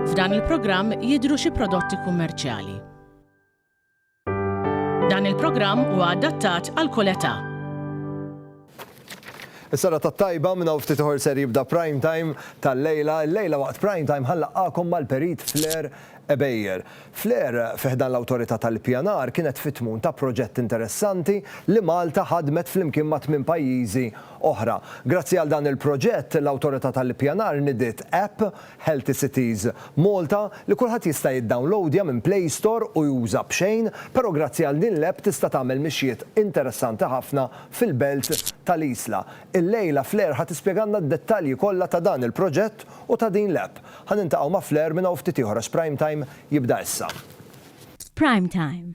F'dan il-programm jidhru xi prodotti kummerċjali. Dan il-programm huwa adattat għal kull età. Is-sara tat-tajba minn hawn ftit ieħor ser jibda prime time tal-lejla. Il-lejla waqt prime time ħallaqakom mal-perit Flair Ebejer. Flair fiħdan l-Awtorità tal-Ippjanar kienet fit-tmun ta' proġett interessanti li Malta ħadmet flimkien ma' tmien pajjiżi oħra. Grazzi għal dan il-proġett, l-Awtorità tal-Ippjanar nidiet app, Healthy Cities Malta, li kulħadd jista' jiddownlowdja minn Play Store u juża b'xejn, però grazzi għal din l-app tista' tagħmel mixjiet interessanti ħafna fil-belt tal-Isla. Illejla Flair ħa tispjegalna d-dettalji kollha ta' dan il-proġett u ta' din l-app. Ħa niltaqgħu ma' Flair minn hawn ftit ieħor għax Prime Time jibda issa. F'Prime Time,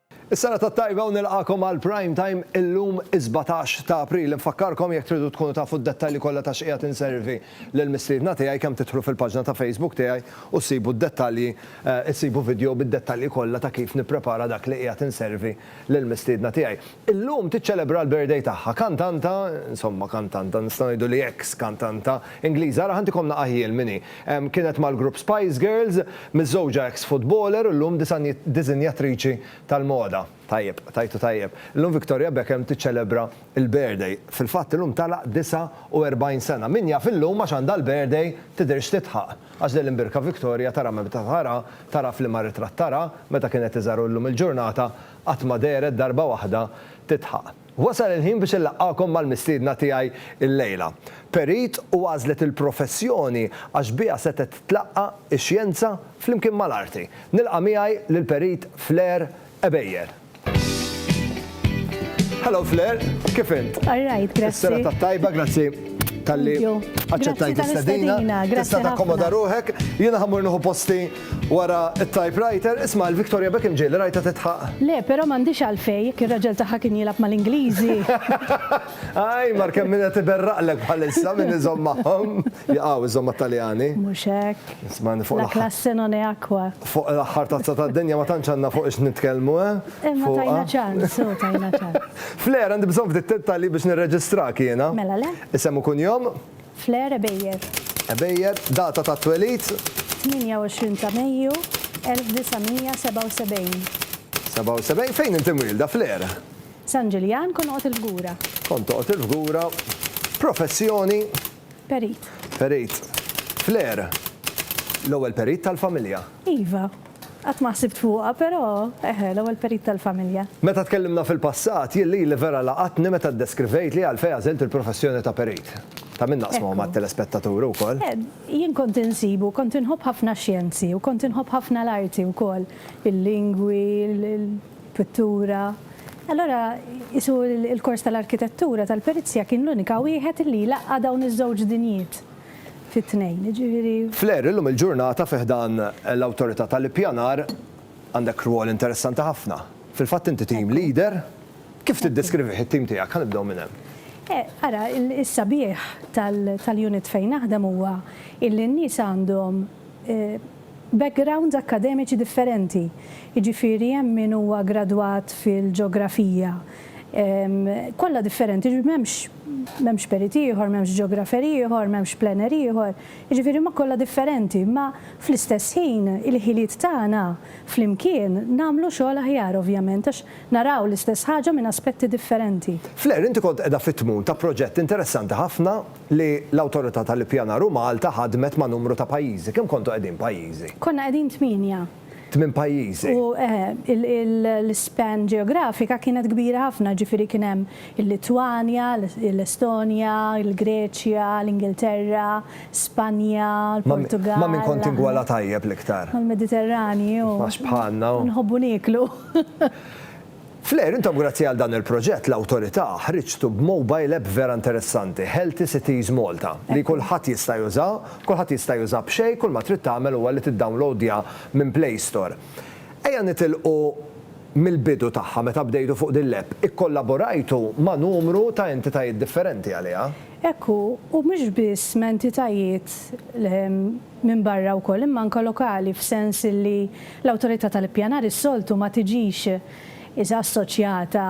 Is-serata t-tajba u nilqagħkom għal Prime Time illum is-sbatax ta' April. Infakkarkom jekk tridu tkunu tafu d-dettalji kollha ta' x'qiegħed inservi lil mistiedna tiegħi kemm tidħlu fil-paġna ta' Facebook tiegħi u ssibu d-dettalji issibu vidjo bid-dettalji kollha ta' kif nipprepara dak li qiegħed inservi lil mistiedna tiegħi. Illum tiċċelebra l-birthday tagħha kantanta insomma kantanta nistgħu ngħidu li eks kantanta Ingliża ara ħa ntikom naqaħ jien min hi. Kienet mal-grupp Spice Girls, miżżewġa eks futboler u llum disinjatriċi tal-moda. Tajjeb, tajtu tajjeb. Illum Victoria Beckham tiċċelebra l-birthday. Fil-fatt illum tagħlaq 49 sena. Min jaf illum għax għandha l-birthday tidhirx titħaq. Għax lil imbirka Victoria tara meta tara, tara f'liema ritratt tara, meta kienet iżgħar u llum il-ġurnata qatt ma dehret darba waħda titħaq. Wasal il-ħin biex inlaqqagħkom mal-mistiedna tiegħi llejla. Perit u għażlet il-professjoni għax biha setgħet tlaqqa' ix-xjenza flimkien mal-arti. Nilqa' miegħi lill-Perit Fleur Ebejer. Hello Fleur, kif int? All right, grazzi. Is-serata t-tajba, grazzi talli aċċettajt l-istedina. Tista' takkomoda ruħek. Jiena ħa mmur nieħu posti Wara t-typewriter, isma' lil Victoria Beckham ġej li rajtha tidħaq. Le, però m'għandhiex għalfejn, jekk ir-raġel tagħha kien jilgħab mal-Ingliżi. Ajj, mar kemm min qed iberraqlek bħalissa, min iżomm magħhom. Jaqaw iżżomm mat-Taljani. Mhux hekk. Ismagħni fuq l-aħħar. La classe non è acqua. Fuq l-aħħar tazza tad-dinja ma tantx għandna fuq ix nitkellmu, eh? Imma tajna ċans, hu, tajna ċans. Flair, għandi bżonn ftit dettalji biex nirreġistrak jiena. Mela le. Isem u kunjom? Flair Ebejer. Ebejer, data tat-twelid? 28 ta' Mejju, 1977. 77? Fejn inti mwielda, Flair? San Ġiljan, kont noqgħod il-Fgura. Kont toqgħod il-Fgura. Professjoni? Perit. Perit. Flair, l-ewwel perit tal-familja? Iva. Qatt ma ħsibt fuqha, però, eħe, l-ewwel perit tal-familja. Meta tkellimna fil-passat, jien lili vera laqatni meta ddeskrivejt li għalfejn għażilt il-professjoni ta' perit. Ta' min naqsmuha mat-telespettaturi wkoll. Jien kont insibu, kont inħobb ħafna x-xjenzi u kont inħobb ħafna l-arti wkoll, il-lingwi, il-pittura. Allura, qisu l-kors tal-arkitettura tal-perizja kien l-unika wieħed li jlaqqa' dawn iż-żewġ dinjiet. fi tnejn, jiġifieri. Flair, illum il-ġurnata fi ħdan l-Awtorità tal-Ippjanar għandek rwol interessanti ħafna. Fil-fatt inti team leader, kif tiddeskrivih it-tim tiegħek? Ħa nibdew minn hemm. Ara, is-sabiħ tal-unit fejn naħdem huwa illi n-nies għandhom backgrounds akkademiċi differenti. Jiġifieri hemm min huwa gradwat fil-ġeografija, kollha differenti, jiġifieri m'hemmx M'hemmx perit ieħor, m'hemmx ġeografer ieħor, m'hemmx planner ieħor, jiġifieri huma kollha differenti, imma fl-istess ħin il-ħiliet tagħna flimkien nagħmlu xogħol aħjar ovvjament għax naraw l-istess ħaġa minn aspetti differenti. Flair, inti kont qiegħda fit-tmun ta' proġett interessanti ħafna li l-Awtorità tal-Ippjanar u Malta ħadmet ma' numru ta' pajjiżi. Kemm kontu qegħdin pajjiżi? Konna qegħdin tmienja. tmien pajjiżi. U l-ispan ġeografika kienet kbira ħafna, ġifieri kien hemm il-Litwanja, l-Estonja, il-Greċja, l-Ingilterra, Spanja, l-Portugall. Ma' min kont tingwala tajjeb l-iktar? Mal-Mediterranju. Għax bħalna. Nħobbu nieklu. Fl-aħħar, intom grazzi għal dan il-proġett, l-Awtorità, ħriġtu b'mobile app vera interessanti, Healthy Cities Malta, li kulħadd jista' juża, kulħadd jista' juża b'xejn, kull ma trid tagħmel huwa li tiddownloadja minn Play Store. Ejja nitilqu mill-bidu tagħha meta bdejtu fuq din l-app, ikkollaborajtu ma' numru ta' entitajiet differenti għaliha. Hekk hu, u mhux biss ma' entitajiet Minbarra wkoll imma anke lokali f'sens li l-Awtorità tal-Ippjanar is-soltu ma tiġix iżda assoċjata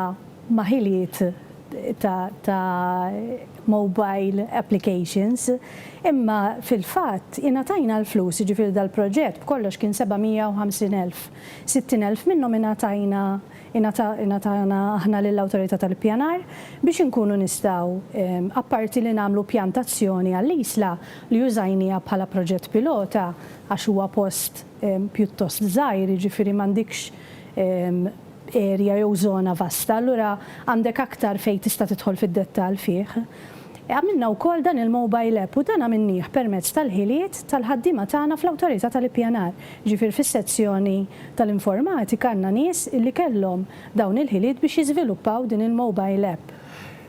ma' ħiliet ta' ta' mobile applications imma fil-fatt ingħatajna l-flus jiġifieri dal-proġett b'kollox kien 750 elf. 60 elf minnhom ingħatajna ingħata ingħatana aħna lill-Awtorità tal-Ippjanar biex inkunu nistgħu apparti li nagħmlu pjantazzjoni għall-Isla li użajniha bħala proġett pilota għax huwa post pjuttost żgħir, jiġifieri m'għandikx erja jew żona vasta, allura għandek aktar fejn tista' tidħol fid-dettall fih. Għamilna wkoll dan il-mobile app u dan għamilnieh permezz tal-ħiliet tal-ħaddiema tagħna fl-Awtorità tal-Ippjanar. Jiġifieri fis-sezzjoni tal-informatika għandna nies li kellhom dawn il-ħiliet biex jiżviluppaw din il-mobile app.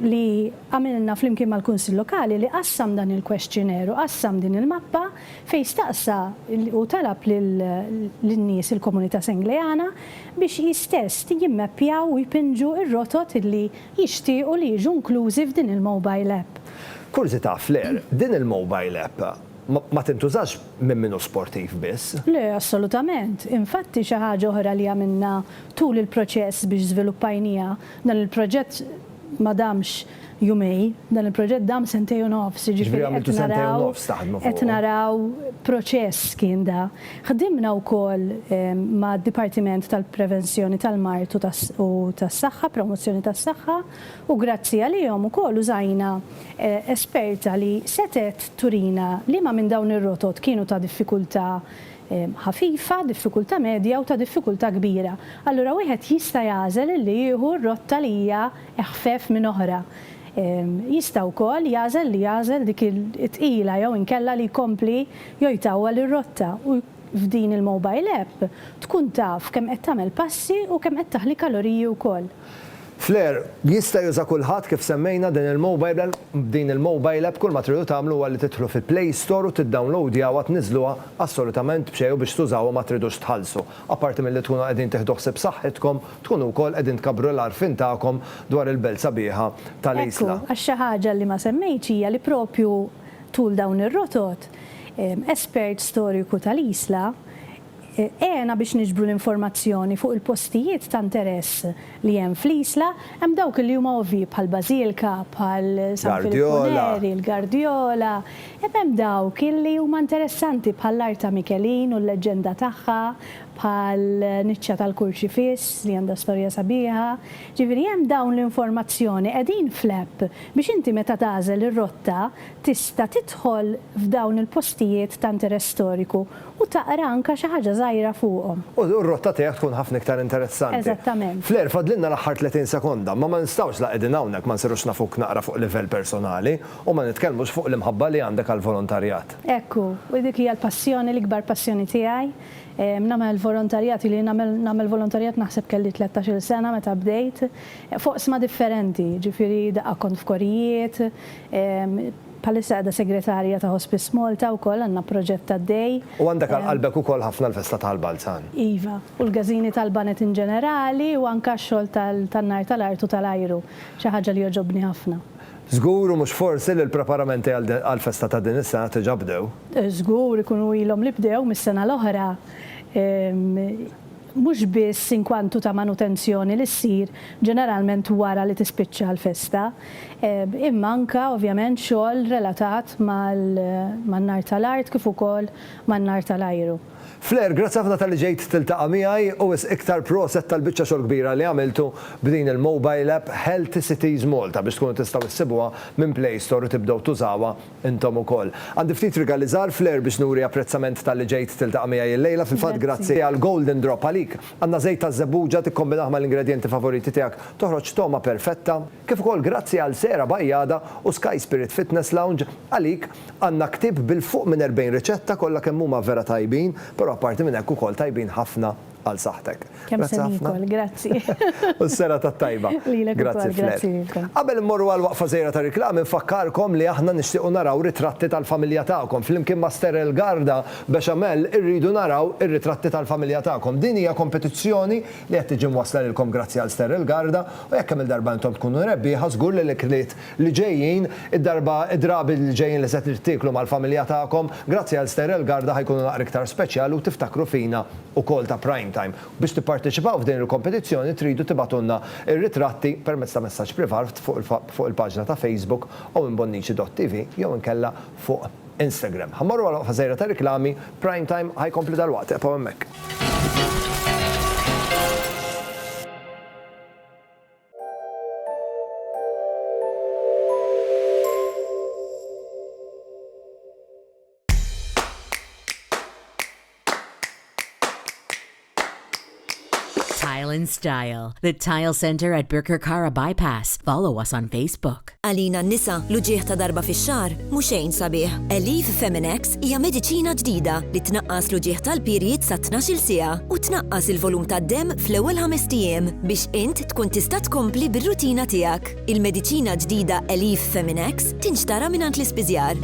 li għamilna flimkien mal-Kunsill Lokali li qassam dan il-questionnaire u qassam din il-mappa fejn staqsa u talab lin-nies, il-komunità Sengleana, biex hi stess jimmappjaw u jpinġu r-rotot li jixtiequ li jiġu inklużi f'din il-mobile app. Kurżità, Flair, din il-mobile app ma tintużax minn min hu sportiv biss? Le, assolutament. Infatti xi ħaġa oħra li għamilna tul il-proċess biex żviluppajniha Dan il-proġett ma damx jumejn, dan il-proġett dam sentejn u nofs, jiġifieri qed naraw qed naraw proċess kien da. Ħdimna wkoll mad-Dipartiment tal-Prevenzjoni tal-Mard u tas-Saħħa, Promozzjoni tas-Saħħa, u grazzi għalihom ukoll użajna esperta li setgħet turina liema minn dawn ir-rotot kienu ta' diffikultà ħafifa, diffikultà medja u ta' diffikultà kbira, allura wieħed jista' jagħżel li jieħu r-rotta li hija eħfef minn oħra. Jista' wkoll jagħżel li jagħżel dik it-tqila jew inkella li jkompli jew jtawwal ir-rotta u f'din il-mobile app tkun taf kemm qed tagħmel passi u kemm qed taħli kaloriji wkoll. Flare, jista' juża kulħadd kif semmejna din il-mobile app, b'din il-mobile app kull ma tridu tagħmlu huwa li tidħlu fi play store u tiddownloadjawha tniżżluha assolutament b'xejn u biex tużawha ma tridux tħallsu. Apparti milli tkunu qegħdin tieħdu ħsieb saħħitkom, tkunu wkoll qegħdin tkabbru l-għarfien tagħkom dwar il-belt sabiħa tal-Isla. Ekku, għax xi ħaġa li ma semmejtx hija li proprju tul dawn ir-rotot, espert storjuku tal-Isla, Għena biex niġbru l-informazzjoni fuq il-postijiet ta' interess li hemm fl-Isla, hemm dawk li huma ovvji bħal Bażilka, bħal San Filippu Neri, il-Gardjola, imma hemm dawk li huma interessanti bħall-art ta' Mikelin u l-leġġenda tagħha, bħal niċċa tal-Kurċifiss li għandha storja sabiħa. Ġifieri hemm dawn l-informazzjoni qegħdin fl-app biex inti meta tagħżel ir-rotta tista' tidħol f'dawn il-postijiet ta' interess storiku U taqra anke xi ħaġa żgħira fuqhom. U r-rotta tiegħek tkun ħafna iktar interessanti. Eżattament. Flair, fadlilna l-aħħar 30 sekonda, imma ma nistgħux la qegħdin hawnhekk ma nsirux nafuk naqra fuq livell personali u ma nitkellmux fuq l-imħabba li għandek għall-volontarjat. Hekk hu. U dik hija l-passjoni, l-ikbar passjoni tiegħi. Nagħmel volontarjat, ili nagħmel nagħmel volontarjat naħseb kelli tlettax-il sena meta bdejt. F'oqsma differenti, jiġifieri daqqa kont f'korijiet, Bħalissa qiegħda Segretarja ta' Hospice Malta wkoll, għandna proġett għaddej. U għandek għal qalbek ukoll ħafna l-festa ta' l-Balzan. Iva, u l-gażini tal-baned in ġenerali u anke x-xogħol tan-nar ta' l-art u ta' l-ajru, xi ħaġa li jogħġobni ħafna. Żgur u mhux forsi li l-preparamenti għall-festa ta' din is-sena diġà bdew? Żgur, ikunu ilhom li bdew mis-sena l-oħra. mhux biss inkwantu ta' manutenzjoni li ssir ġeneralment wara li tispiċċa l-festa, imma anke ovvjament xogħol relatat man-nar tal-art kif ukoll man-nar tal-ajru. Flair, grazzi ħafna talli ġejt tiltaqa' miegħi u wisq iktar proset tal-biċċa xogħol kbira li għamiltu b'din il-mobile app Healthy Cities Malta biex tkunu tistgħu ssibuha minn Play Store u tibdew tużawha Intom ukoll. Għandi ftit rigali żgħar flair biex nuri apprezzament talli ġejt tiltaqa' miegħi illejla. Fil-fatt grazzi għal Golden Drop għalik għandna żejt taż-żebbuġa, tikkombinah mal-ingredjenti favoriti tiegħek toħroġ togħma perfetta. Kif ukoll grazzi għal Sera Bajada u Sky Spirit Fitness Lounge għalik għandna ktieb bil-fuq minn 40 riċetta kollha kemm huma vera tajbin, però apparti minn hekk ukoll tajbin ħafna għal saħħtek. Kemm se niekol, grazzi. U s-serata t-tajba. Lilek ukoll, grazzi lilkom. Qabel immorru għal waqfa żgħira ta' riklami nfakkarkom li aħna nixtiequ naraw ritratti tal-familja tagħkom. Flimkien ma' Sterel Garda Bechamel irridu naraw ir-ritratti tal-familja tagħkom. Din hija kompetizzjoni li qed tiġi mwassla lilkom grazzi għal Sterel Garda u jekk kemm-il darba intom tkunu rebbieħa żgur li l-ikliet li ġejjin, id-darba, id-drabi li ġejjin li se tieklu mal-familja tagħkom, grazzi għal Sterel Garda ħa jkunu naqra iktar speċjali u tiftakru fina ukoll ta' Prime Time. Biex tipparteċipaw f'din il-kompetizzjoni tridu tibgħatulna r-ritratti permezz ta' messaġġ privat fuq il-paġna ta' Facebook owenbonnici.tv jew inkella fuq Instagram. Ħa mmorru għal waqfa żgħira ta' riklami, Prime Time ħa jkompli dalwaqt, ebqgħu hemmhekk. Tile and Style, the Tile Center at Birkirkara Bypass. Follow us on Facebook. Alina Nisa, l-uġieħ ta' darba fi xar, muxejn sabiħ. Elif Feminex hija mediċina ġdida li tnaqqas l-uġieħ tal-pirjiet sa' 12 sija u tnaqqas il-volum tad-dem fl-ewwel ħamestijiem biex int tkun tista' tkompli bir-rutina tiegħek. Il-mediċina ġdida Elif Feminex tinxtara mingħand l-ispiżjar.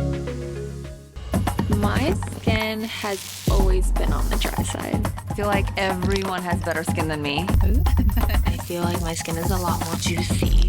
My skin has always been on the dry side. I feel like everyone has better skin than me. I feel like my skin is a lot more juicy.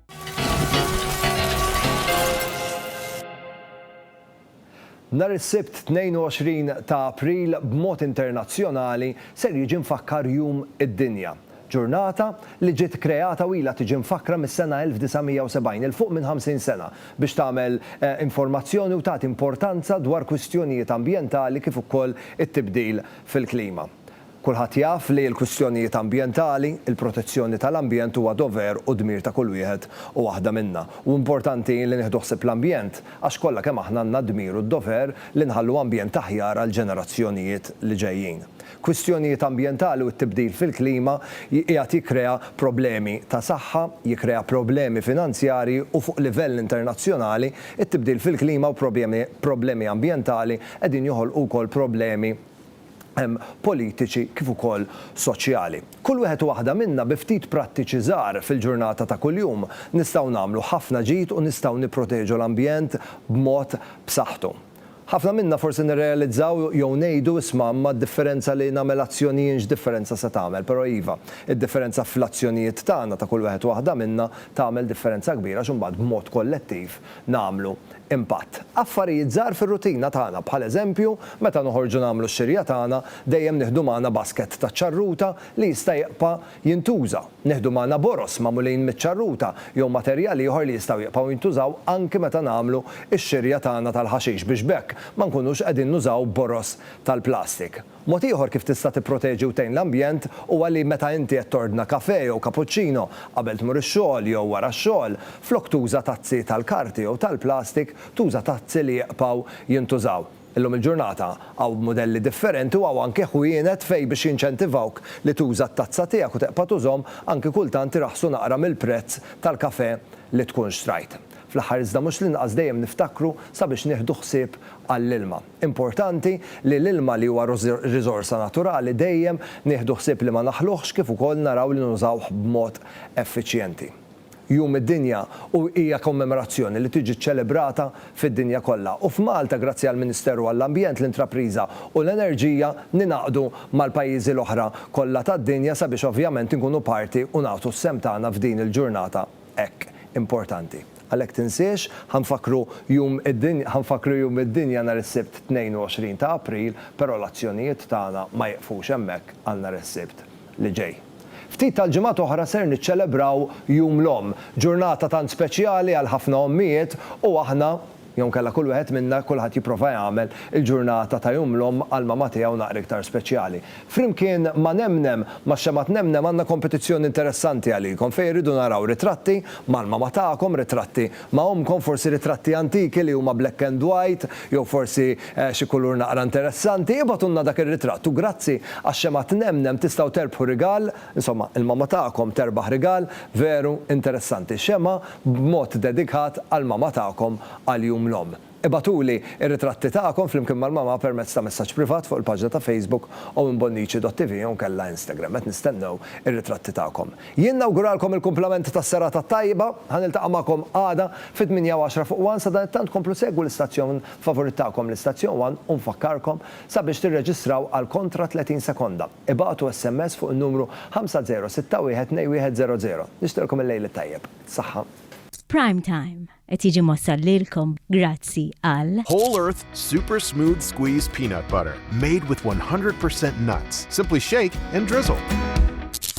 Nhar is-Sibt 22 ta' April b'mod internazzjonali ser jiġi mfakkar Jum id-Dinja. Ġurnata li ġiet kreata u ilha tiġi mfakkra mis-sena 1970, 'il fuq minn 50 sena, biex tagħmel informazzjoni u tagħti importanza dwar kwistjonijiet ambjentali kif ukoll it-tibdil fil-klima. Kulħadd jaf li l-kwistjonijiet ambjentali, il-protezzjoni tal-ambjent huwa dover u dmir ta' kull wieħed u waħda minna. U importanti li nieħdu ħsieb l-ambjent għax kollha kemm aħna għandna d-dmir u d-dover li nħallu ambjent aħjar għall-ġenerazzjonijiet li ġejjin. Kwistjonijiet ambjentali u t-tibdil fil-klima qiegħed jikkrea problemi ta' saħħa, jikkrea problemi finanzjarji u fuq livell internazzjonali t-tibdil fil-klima u problemi ambjentali qegħdin joħolqu wkoll problemi politiċi kif ukoll soċjali. Kull wieħed u waħda minna bi ftit prattiċi żgħar fil-ġurnata ta' kuljum nistgħu nagħmlu ħafna ġid u nistgħu nipproteġu l-ambjent b'mod b'saħħtu. Ħafna minna forsi nirrealizzaw jew ngħidu, isma' imma d-differenza li nagħmel azzjonijin x'differenza se tagħmel? Però iva, id-differenza fl-azzjonijiet tagħna ta' kull wieħed u waħda minna tagħmel differenza kbira għax imbagħad b'mod kollettiv nagħmlu impatt. Affarijiet żgħar fir-rutina tagħna, bħal eżempju, meta noħorġu nagħmlu x-xirja tagħna, dejjem nieħdu magħna basket taċ-ċarruta li jista' jibqa' jintuża. Nieħdu magħna boroż magħmulin miċ-ċarruta jew materjal ieħor li jistgħu jibqgħu jintużaw anki meta nagħmlu x-xirja tagħna tal-ħaxix biex b'hekk ma nkunux qegħdin nużaw boroż tal-plastik. Mod ieħor kif tista' tipproteġi u tgħin l-ambjent huwa li meta inti qed tordna kafè jew kapuċċino qabel tmur ix-xogħol jew wara x-xogħol, flok tuża tazzi tal-karti jew tal-plastik, tuża tazzi li jqbgħu jintużaw. Illum il-ġurnata, hawn mudelli differenti u hawn anki ħwienet fejn biex jinċentivawk li tuża t-tazza tiegħek u teqpa' tużhom, anki kultant iraħħsu naqra mill-prezz tal-kafè li tkun xtrajt. Fl-aħħar iżda mhux l-inqas dejjem niftakru sabiex nieħdu ħsieb għall-ilma. Importanti li l-ilma li huwa riżorsa naturali dejjem nieħdu ħsieb li ma naħluhx kif ukoll naraw li nużawh b'mod effiċjenti. Jum id-Dinja u hija kommemorazzjoni li tiġi ċċelebrata fid-dinja kollha u f'Malta grazzi għall-Ministeru għall-Ambjent, l-Intrapriża u l-Enerġija ningħaqdu mal-pajjiżi l-oħra kollha tad-dinja sabiex ovvjament inkunu parti u nagħtu s-sehem tagħna f'din il-ġurnata hekk importanti. Għalhekk tinsiex, ħa nfakkru jum id-dinja ħa nfakkru jum id-dinja nhar is-Sibt 22 ta' April, però l-azzjonijiet tagħna ma jiqfux hemmhekk għal nhar is-Sibt li ġej. Ftit tal-ġimgħat oħra ser niċċelebraw Jum l-Omm, ġurnata tant speċjali għal ħafna ommijiet u aħna, Jew inkella kull wieħed minna, kulħadd jipprova jagħmel il-ġurnata ta' Jum l-Omm għall-mama tiegħu naqra iktar speċjali. Flimkien ma' Nemnem, max-xemgħa tNemnem għandna kompetizzjoni interessanti għalikom fejn irridu naraw ritratti mal-mama tagħkom, ritratti ma' ommkom, forsi ritratti antiki li huma black and white jew forsi xi kulur naqra interessanti. Ibgħatulna dak ir-ritratt u grazzi għax-xemgħa tNemnem tistgħu terbħu rigal. Insomma, il-mamma tagħkom terbaħ rigal veru interessanti, xemgħa b'mod dedikat għall-mamma tagħkom għal Jum l-Omm. Ibgħatuli r-ritratti tagħkom flimkien mal-mamma permezz ta' messaġġ privat fuq il-paġna ta' Facebook owimbonnici.tv jew inkella Instagram. Qed nistennew ir-ritratti tagħkom. Jien nawguralkom il-kumplament tas-serata tajba. Ħa niltaqa' magħkom għada fit-tmienja u għaxra fuq one. Sadanittant komplu segwu l-istazzjon favurit tagħkom, l-istazzjon one u nfakkarkom sabiex tirreġistraw għal kontra 30 sekonda. Ibagħtu SMS fuq in-numru 50612100. Nixtieqlkom il-Lejl it-Tajjeb. Saħħa. Prime Time qed jiġi mwassal lilkom grazzi għal. Whole Earth Super Smooth Squeeze Peanut Butter, made with 100 percent nuts. Simply shake and drizzle.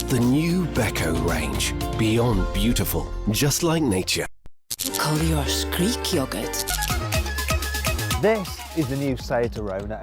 The new Beko range, beyond beautiful, just like nature. Kolliosh Greek yogurt. This is the new Cicerona.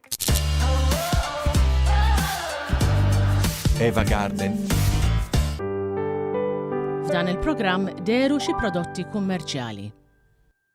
Eva Garden. F'dan il-programm deru xi prodotti kummerċjali.